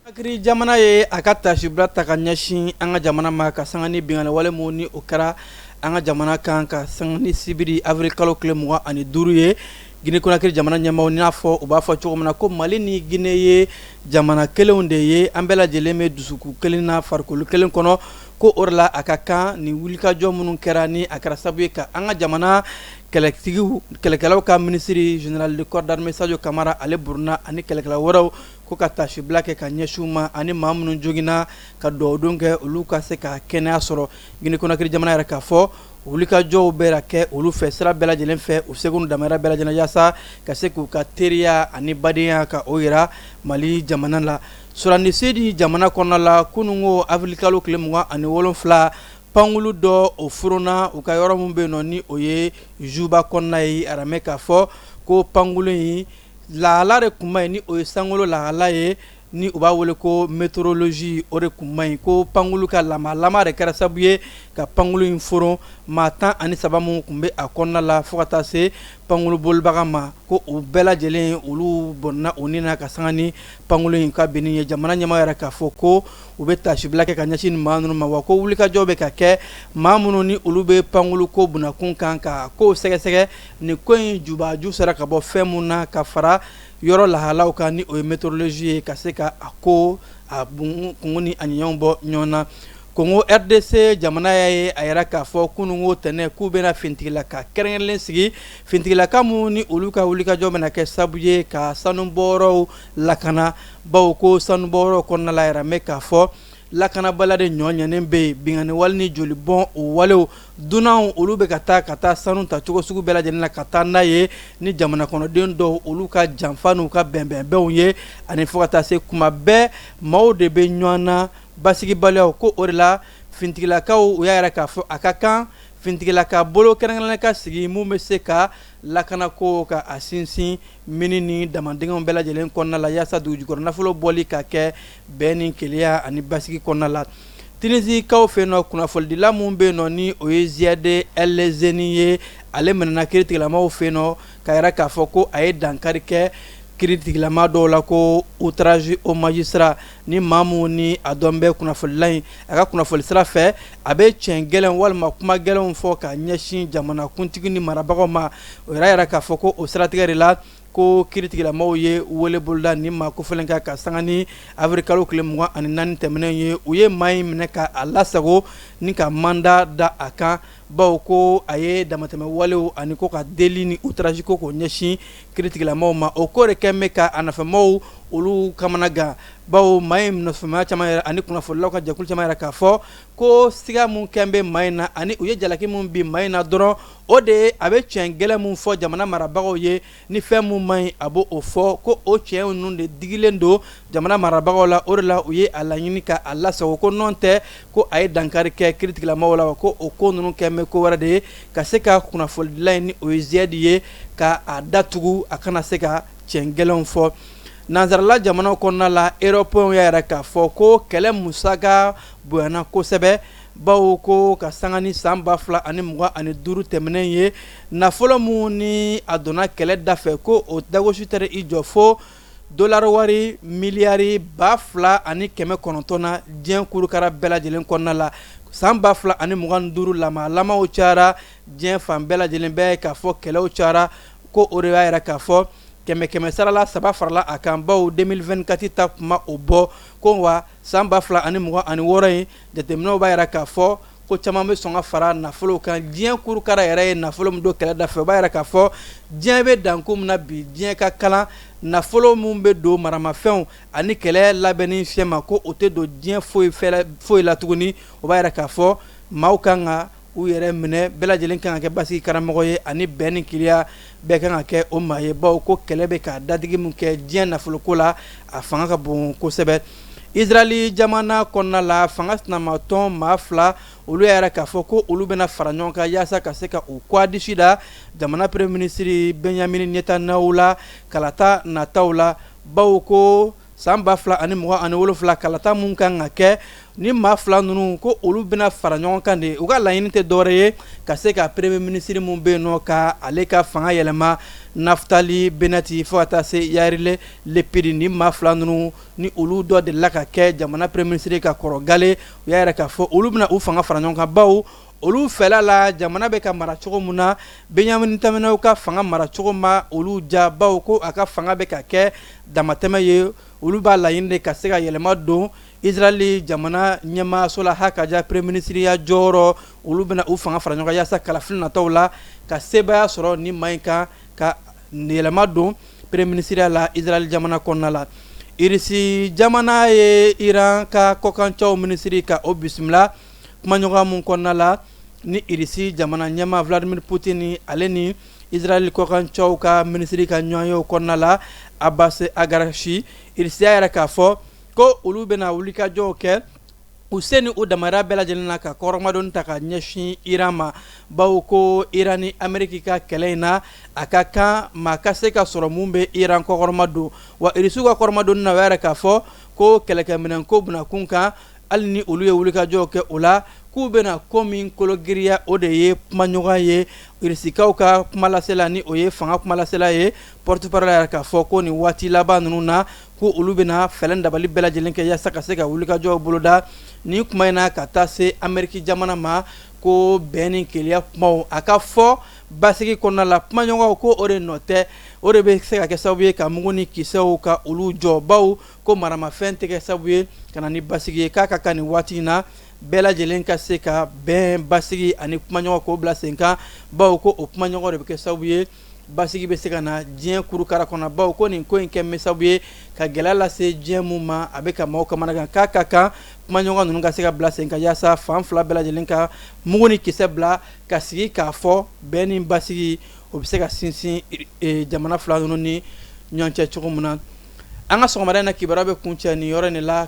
Conakry jamana ye a ka taasibila ta ka ɲɛsin an ka jamana ma ka sanga ni binkanni wale minnu ni o kɛra an ka jamana kan ka sanga ni sibiri avril kalo tile 25 ye Guinée Conakry jamana ɲɛmaaw n'a fɔ u b'a fɔ cogo min na ko Mali ni Guinée ye jamana kelenw de ye an bɛɛ lajɛlen bɛ dusukun kelen na farikolo kelen kɔnɔ ko o de la a ka kan ni wulikajɔ minnu kɛra ni a kɛra sababu ye ka an ka jamana kɛlɛtigi kɛlɛkɛlaw ka minisiri général de corps d'armée Sadio Camara ale burunna ani kɛlɛkɛla wɛrɛw ko ka taasibila kɛ ka ɲɛsin u ma ani maa minnu joogininna ka dugawudon kɛ olu ka se ka kɛnɛya sɔrɔ Guinée Conakry jamana y'a jira k'a fɔ wulikajɔw bɛna kɛ olu fɛ sira bɛɛ lajɛlen fɛ u seko n'u damajira bɛɛ lajɛlen yaasa ka se k'u ka teriya ani badenya ka o jira mali jamana la Soudan du Sud jamana kɔnɔna la kunun ko avril kalo tile mugan ani wolonwula pankulu dɔ o furuna u ka yɔrɔ min bɛ nɔ ni o ye Juba kɔnɔna ye a jiralen bɛ k'a fɔ ko pankulu in lahala de tun man ɲi ni o ye sankolo lahala ye ni u b'a wele ko météorologie o de tun man ɲi ko pankulu ka lamaga lamaga de kɛra sababu ye ka pankulu in furun maa tan ani saba minnu tun bɛ a kɔnɔna la fo ka taa se pankulu bolibaga ma ko u bɛɛ lajɛlen olu bɔnna u ni na ka san pankulu in ka binni ye jamana ɲɛmaa y'a jira k'a fɔ ko u bɛ taasibila kɛ ka ɲɛsin maa ninnu ma wa ko wulikajɔ bɛ ka kɛ maa minnu ni olu bɛ pankulu ko binna kun kan ka ko sɛgɛsɛgɛ ni ko in jubaju sera ka bɔ fɛn min na ka fara yɔrɔ lahalaw kan ni o ye météorologie ye ka se ka a ko a kun ni ani ɲɔgɔn bɔ ɲɔgɔn na Congo RDC jamana y'a ye a jira k'a fɔ kununko tɛnɛn k'u bɛna finitigilaka kɛrɛnkɛrɛnnen sigi Finitigilaka min ni olu ka wulikajɔ bɛna kɛ sababu ye ka sanubɔyɔrɔw lakana bawo ko sanubɔyɔrɔw kɔnɔna la a jiralen bɛ k'a fɔ lakanabaliya de ɲɔ ɲnen bɛ yen binkanni wale ni joli bɔn o walew dunanw olu bɛ ka taa ka taa sanu ta cogo sugu bɛɛ lajɛlen na ka taa n'a ye ni jamana kɔnɔden dɔw olu ka janfa n'u ka bɛnbɛnbɛnw ye ani fo ka taa se kuma bɛɛ maaw de bɛ ɲɔgɔn na basigibaliya ko o de la finitigilakaw u y'a jira k'a fɔ a ka kan Finitigilaka bolo kɛrɛnkɛrɛnnen ka sigi minnu bɛ se ka lakana ko ka a sinsin mini ni damandingɛw bɛɛ lajɛlen kɔnɔna la yaasa dugujukɔrɔ nafolo bɔli ka kɛ bɛn ni kelenya ani basigi kɔnɔna la Tunisiekaw fɛ nɔ kunnafonidila min bɛ nɔ ni o ye Zied El Heni ye ale minɛna kiritigɛlamaaw fɛ nɔ k'a jira k'a fɔ ko a ye dankari kɛ kiritigɛlamaa dɔw la ko outrage au magistrat Ni maa min ni a dɔnnen bɛ kunnafonila in a ka kunnafonili sira fɛ a bɛ tiɲɛ gɛlɛn walima kuma gɛlɛnw fɔ ka ɲɛsin jamanakuntigi ni marabagaw ma o y'a jira k'a fɔ ko o siratigɛ de la ko kiritigɛlamɔgɔw ye wele boloda ni ma ko fana kan ka sanga ni avril kalo tile mugan ani naani tɛmɛnen ye u ye maa in minɛ k'a lasago ni ka manda da a kan baw ko a ye damatɛmɛ walew ani ko ka deli ni outrage ko k'o ɲɛsin kiritigɛlamaaw ma o ko de kɛlen bɛ ka a nɔfɛmaaw olu kamana gan baw maa in nɔfɛmaa caman ani kunnafonidilaw ka jɛkulu caman y'a yira k'a fɔ ko siga min kɛlen bɛ maa in na ani u ye jalaki min bin maa in na dɔrɔn o de ye a bɛ tiɲɛ gɛlɛn min fɔ jamana marabagaw ye Ni fɛn min man ɲi a b'o fɔ ko o cɛn ninnu de digilen don jamana marabagaw la o de la u ye a laɲini ka a lasago ko nɔntɛ ko a ye dankari kɛ kiritigɛlamaaw la ko o ko ninnu kɛlen bɛ ko wɛrɛ de ye ka se ka kunnafonidila in ni o ye Zied ye ka a datugu a kana se ka cɛn gɛlɛn fɔ nansarala jamana kɔnɔna la erɔpɛnw y'a yira k'a fɔ ko kɛlɛ musaka bonyana kosɛbɛ baw ko ka sanga ni san ba fila ani mugan ani duuru tɛmɛnen ye nafolo min ni a donna kɛlɛ da fɛ ko o dagosi taara i jɔ fo dɔlari wari miliyari ba fila ani kɛmɛ kɔnɔntɔn na diɲɛ kurukara bɛɛ lajɛlen kɔnɔna la san ba fila ani mugan ni duuru la maramaw cara diɲɛ fan bɛɛ lajɛlen bɛ k'a fɔ kɛlɛw cara ko o de y'a yira k'a fɔ kɛmɛ kɛmɛ sarala saba farala a kan baw deux mille vingt-quatre ta kuma o bɔ ko wa san ba fila ani mugan ani wɔɔrɔ in Jateminɛw b'a jira k'a fɔ ko caman bɛ sɔn ka fara nafolo kan diɲɛ kurukara yɛrɛ ye nafolo min don kɛlɛ da fɛ o b'a jira k'a fɔ diɲɛ bɛ dankun min na bi diɲɛ ka kalan nafolo min bɛ don maramafɛnw ani kɛlɛ labɛnni fiyɛ ma ko o tɛ don diɲɛ foyi foyi la tuguni o b'a jira k'a fɔ maaw ka kan u yɛrɛ minɛ bɛɛ lajɛlen kan ka kɛ basigi karamɔgɔ ye ani bɛn ni kelenya bɛɛ kan ka kɛ o maa ye baw ko kɛlɛ bɛ ka dadigi min kɛ diɲɛ nafoloko la a fanga ka bon kosɛbɛ Israel jamana kɔnɔna la fanga sinamatɔn maa fila olu y'a yira k'a fɔ ko olu bɛna fara ɲɔgɔn kan yasa ka se ka u kɔgɔ disi da jamana premier ministre Benjamin Netanyahu la kalata nataw la baw ko San ba fila ani mugan ani wolonfila kalata min kan ka kɛ ni maa fila ninnu ko olu bɛna fara ɲɔgɔn kan de u ka laɲini tɛ dɔwɛrɛ ye ka se ka premier ministre min bɛ yen nɔ ka ale ka fanga yɛlɛma Naftali Bennett fo ka taa se Yair Lapid ni maa fila ninnu ni olu dɔ delila ka kɛ jamana premier ministre ka kɔrɔ galen u y'a yira k'a fɔ olu bɛna u fanga fara ɲɔgɔn kan baw Olu fɛla la jamana bɛ ka mara cogo min na Benjamin Netanyahu ka fanga mara cogo ma olu diya bawo ko a ka fanga bɛ ka kɛ damatɛmɛ ye olu b'a laɲini de ka se ka yɛlɛma don Israel jamana ɲɛmaayaso la hakaja premier ministre ya jɔyɔrɔ olu bɛna u fanga fara ɲɔgɔn kan yasa kalafili nataw la ka sebaaya sɔrɔ nin maa in kan ka yɛlɛma don premier ministre ya la Israel jamana kɔnɔna la Irisi jamana ye Iran ka kɔkancɛw minisiri ka o bisimila kumaɲɔgɔn min kɔnɔna la ni Irisi jamana ɲɛmaa Vladimir Poutine ale ni Israɛl kɔkancɛw ka minisiri ka ɲɔgɔn ye o kɔnɔna la, Abbas Araghchi, Irisi y'a jira k'a fɔ ko olu bɛna wulikajɔw kɛ u se ni u damahira bɛɛ lajɛlen na ka kɔkɔrɔmadonni ta ka ɲɛsin Iran ma, bawo ko Iran ni Ameriki ka kɛlɛ in na, a ka kan maa ka se ka sɔrɔ min bɛ Iran kɔkɔrɔmadon, wa Irisiw ka kɔkɔrɔmadonni na, u y'a jira k'a fɔ ko kɛlɛkɛminɛnko bɛna kun kan. hali ni olu ye wulikajɔw kɛ o la k'u bɛna ko min kologiriya o de ye kumaɲɔgɔn ye irisikaw ka kumalasela ni o ye fanga kumalasela ye porte-parole y'a jira k'a fɔ ko nin waati laban ninnu na ko olu bɛna fɛɛrɛ dabali bɛɛ lajɛlen kɛ yaasa ka se ka wulikajɔw boloda nin kuma in na ka taa se ameriki jamana ma ko bɛn ni kelenya kumaw a ka fɔ basigi kɔnɔna la kumaɲɔgɔn ko o de nɔ tɛ o de bɛ se ka kɛ sababu ye ka mugu ni kisɛw ka olu jɔ bawo ko maramafɛn tɛ kɛ sabu ye ka na ni basigi ye k'a ka kan nin waati in na bɛɛ lajɛlen ka se ka bɛn basigi ani kumaɲɔgɔn k'o bila sen kan bawo ko o kumaɲɔgɔn de bɛ kɛ sababu ye basigi bɛ se ka na diɲɛ kurukara kɔnɔ bawo ko nin ko in kɛlen bɛ sabu ye ka gɛlɛya lase diɲɛ min ma a bɛ ka maaw kamanagan k'a ka kan kumaɲɔgɔn ninnu ka se ka bila sen kan yaasa fan fila bɛɛ lajɛlen ka mugu ni kisɛ bila ka sigi k'a fɔ bɛn ni basigi o bɛ se ka sinsin jamana fila ninnu ni ɲɔgɔn cɛ cogo min na an ka sɔgɔmada in na kibaruya bɛ kuncɛ nin yɔrɔ in de la